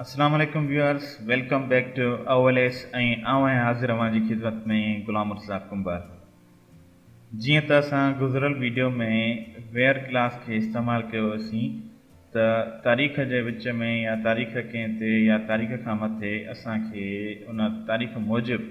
اسلام عليڪم viewers welcome back to اول ايس ۽ آئون آهيان حاضر اوهان جي خدمت ۾ غلام مرتضا ڪنڀر جيئن ته اسان گذريل ويڊيو ۾ ويئر ڪلاس کي استعمال ڪيو هوسين ته تاريخ جي وچ ۾ يا تاريخ ڪنهن تي يا تاريخ کان مٿي اسان کي ان تاريخ موجب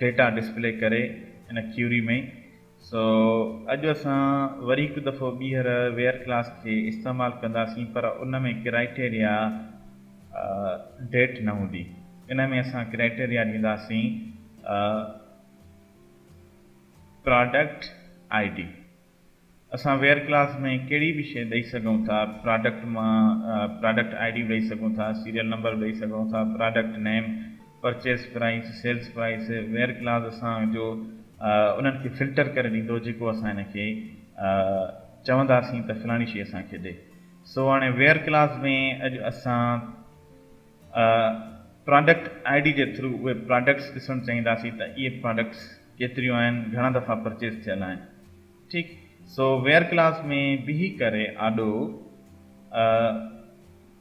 ڊيٽا ڊسپلي ڪري ان ڪيوري ۾ سو اڄ اسان وري هڪ دفعو ٻيهر ويئر ڪلاس کي استعمال ڪنداسين پر ان ۾ ڪرائيٽيريا ڊيٽ نه هوندي ان ۾ اسان ڪرائيٽيريا ڏينداسين پراڊڪٽ آئي ڊي اسان ويئر ڪلاس ۾ ڪهڙي به شيء ڏئي سگهون ٿا پراڊڪٽ مان پراڊڪٽ آئي ڊي به ڏئي سگهون ٿا سيريل نمبر به ڏئي سگهون ٿا product name purchase price, sales price, where clause اسان جو انهن کي فلٽر ڪري ڏيندو جيڪو اسان هن کي چونداسين ته فلاڻي شيء اسان کي ڏي. سو هاڻي ويئر ڪلاز ۾ اڄ اسان پراڊڪٽ آئي ڊي جي ٿرو اهي پراڊڪٽس ڏسڻ چاهينداسين ته اهي پراڊڪٽس ڪيتريون آهن، گهڻا دفعا پرچيز ٿيل آهن. ٺيڪ سو ويئر ڪلاز ۾ بيهي ڪري آڏو.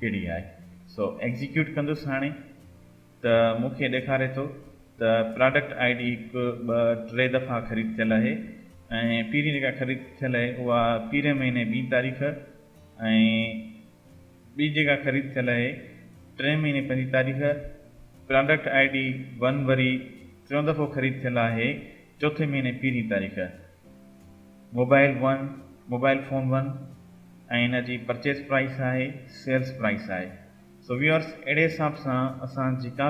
ڪهڙي آهي سو ايگزيڪيوٽ ڪندس هاڻي ته مون کي ڏيکاري ٿو ته پراڊڪٽ آئي ڊي هڪ ٻه ٽي دفعا خريد ٿيل اهي ۽ پهرين جيڪا خريد ٿيل اهي اها پهرين مهيني ٻي تاريخ ۽ ٻي جيڪا خريد ٿيل اهي ٽئين مهيني پنجين تاريخ پراڊڪٽ آئي ڊي ون وري ٽيون دفعو خريد ٿيل آهي چوٿين مهيني پهرين تاريخ mobile one mobile phone one ۽ ان جي پرچيز پرائيس آهي سيلز پرائيس آهي سو ويورس اهڙي حساب سان اسان جيڪا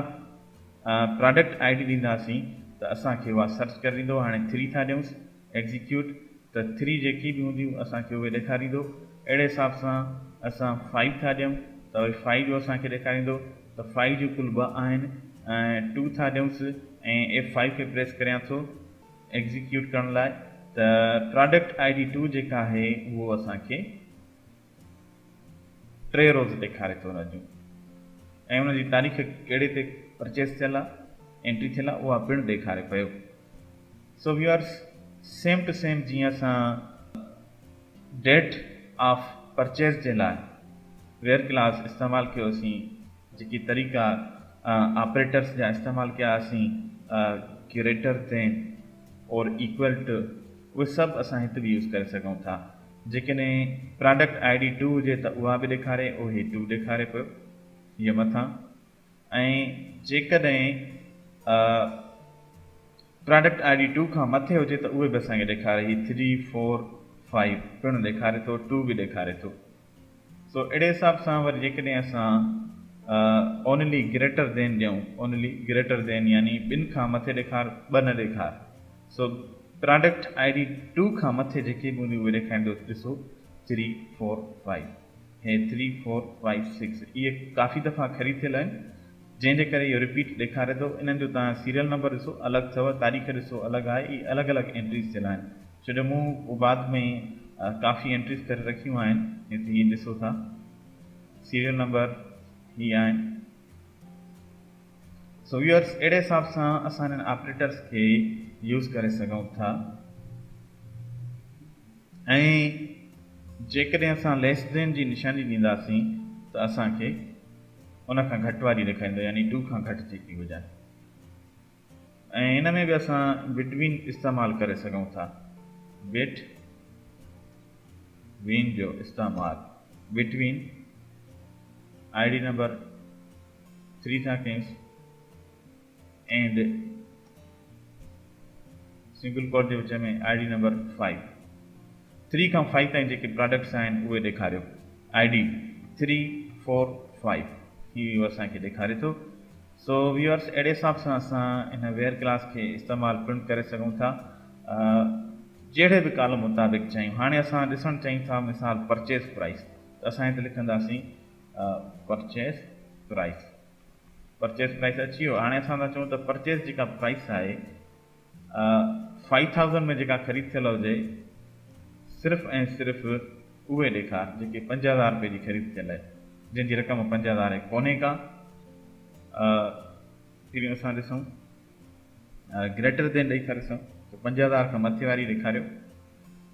پراڊڪٽ آئي ڊي ڏينداسين ته اسان کي اها سرچ ڪري ڏيندو هاڻي ٿري ٿا ڏيونس ايگزيڪيوٽ ته ٿري جيڪي به هونديون اسان کي اهي ڏيکاريندو اهڙي حساب سان اسان فائيو ٿا ڏيون ته اهي فائيو جو اسان کي ڏيکاريندو ته فائيو جون ڪل ٻه آهن ٽو ٿا ڏيونس ۽ ايف فائيو کي پريس ڪريان ٿو ايگزيڪيوٽ ڪرڻ لاء ته پراڊڪٽ آئي ڊي ٽو جيڪا آهي اهو اسان کي ٽي روز ڏيکاري ٿو رجو ۽ ان جي تاريخ ڪهڙي تي پرچيز ٿيل آهي انٽري ٿيل آهي اها پڻ ڏيکاري پيو so viewers same to same جيئن اسان ڊيٽ آف پرچيز جي لاء ويئر ڪلاس استعمال ڪيوسين جيڪي طريقا آپريٽرس جا استعمال ڪيا اسين ڪيوريٽر تي اور ايڪول ٽو اهي سڀ اسان هت به يوز ڪري سگهون ٿا جيڪڏهن پراڊڪٽ آئي ڊي ٽو هجي ته اها به ڏيکاري اهي ٽو ڏيکاري پيو هيء مٿان ۽ جيڪڏهن پراڊڪٽ آئي ڊي ٽو کان مٿي هجي ته اهي به اسان کي ڏيکاري هي ٿري فور فائيو پڻ ڏيکاري ٿو ٽو به ڏيکاري ٿو سو اهڙي حساب سان وري جيڪڏهن اسان اونلي گريٽر دين ڏيون اونلي گريٽر دين يعني ٻن کان مٿي ڏيکار ٻه نه ڏيکار سو پراڊڪٽ آئي ڊي ٽو کان مٿي جيڪي به هونديون اهي ڏيکاريندو ڏسو ٿري فور فائيو هي ٿري فور فائيو سڪس اهي ڪافي دفعا خريد ٿيل آهن جنهن جي ڪري اهو رپيٽ ڏيکاري ٿو انهن جو تان سيريل نمبر ڏسو الڳ اٿو تاريخ ڏسو الڳ آهي اهي الڳ الڳ انٽريز ٿيل آهن جڏهن مون بعد ۾ ڪافي انٽريز ڪري رکيون آهن هت هي ڏسو ٿا سيريل نمبر هي آهن سو ويورس اهڙي حساب سان اسان انهن آپريٽرس کي يوز ڪري سگهون ٿا ۽ جيڪڏهن اسان ليس دين جي نشاني ڏينداسين ته اسان کي ان کان گهٽ واري ڏيکاريندو يعني 2 کان گهٽ جيڪي هجن ۽ ان ۾ به اسان Between استعمال ڪري سگهون ٿا Bit وين جو استعمال Between I D number three سان ڪيس اينڊ سنگل ڪوٽ جي وچ ۾ I D number five three کان فائيو تائين جيڪي پراڊڪٽس آهن اهي ڏيکاريو I D three four five هي اسان کي ڏيکاري ٿو سو ويورس اهڙي حساب سان اسان هن ويئر ڪلاس کي استعمال پڻ ڪري سگهون ٿا جهڙي به ڪالم مطابق چاهيون هاڻي اسان ڏسڻ چاهيون ٿا مثال پرچيز پرائس ته اسان هتي لکنداسين پرچيز پرائس پرچيز پرائس اچي ويو هاڻي اسان ٿا چون ته پرچيز جيڪا پرائس آهي فائيو ٿائوزنڊ ۾ جيڪا خريد ٿيل هجي صرف ۽ صرف اهي ڏيکار جيڪي پنج هزار رپئي جي خريد ٿيل آهي جنهن جي رقم پنج هزار ڪونهي ڪا پهرين اسان ڏسون گريٽر دين ڏئي ٿا ڏسون ته پنج هزار کان مٿي واري ڏيکاريو.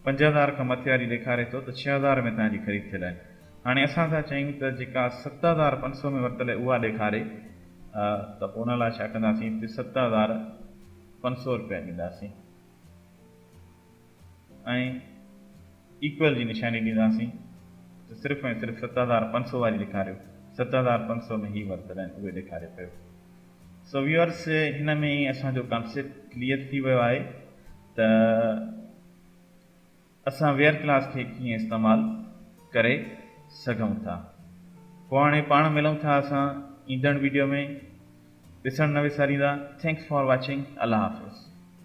پنج هزار کان مٿي واري ڏيکاري ٿو ته ڇهه هزار ۾ تنهنجي خريد ٿيل آهي هاڻي اسان ٿا چاهيون ته جيڪا ست هزار پنج سؤ ۾ ورتل آهي اها ڏيکاري ته پوء ان لاء ڇا ڪنداسين اتي ست هزار پنج سؤ رپيا ڏينداسين ۽ ايڪول جي نشاني ڏينداسين ته صرف ۽ صرف ست هزار پنج سؤ واري ڏيکاريو ست هزار پنج سؤ ۾ هي ورتل آهن اهي ڏيکاري پيو سو ويورس هن ۾ ئي اسان جو ڪانسيپٽ ڪليئر ٿي ويو آهي ته اسان ويئر ڪلاس کي ڪيئن استعمال ڪري سگهون ٿا پوء هاڻي پاڻ ملون ٿا اسان ايندڙ ويڊيو ۾ ڏسڻ نه وساريندا ٿينڪس فار واچنگ الله حافظ.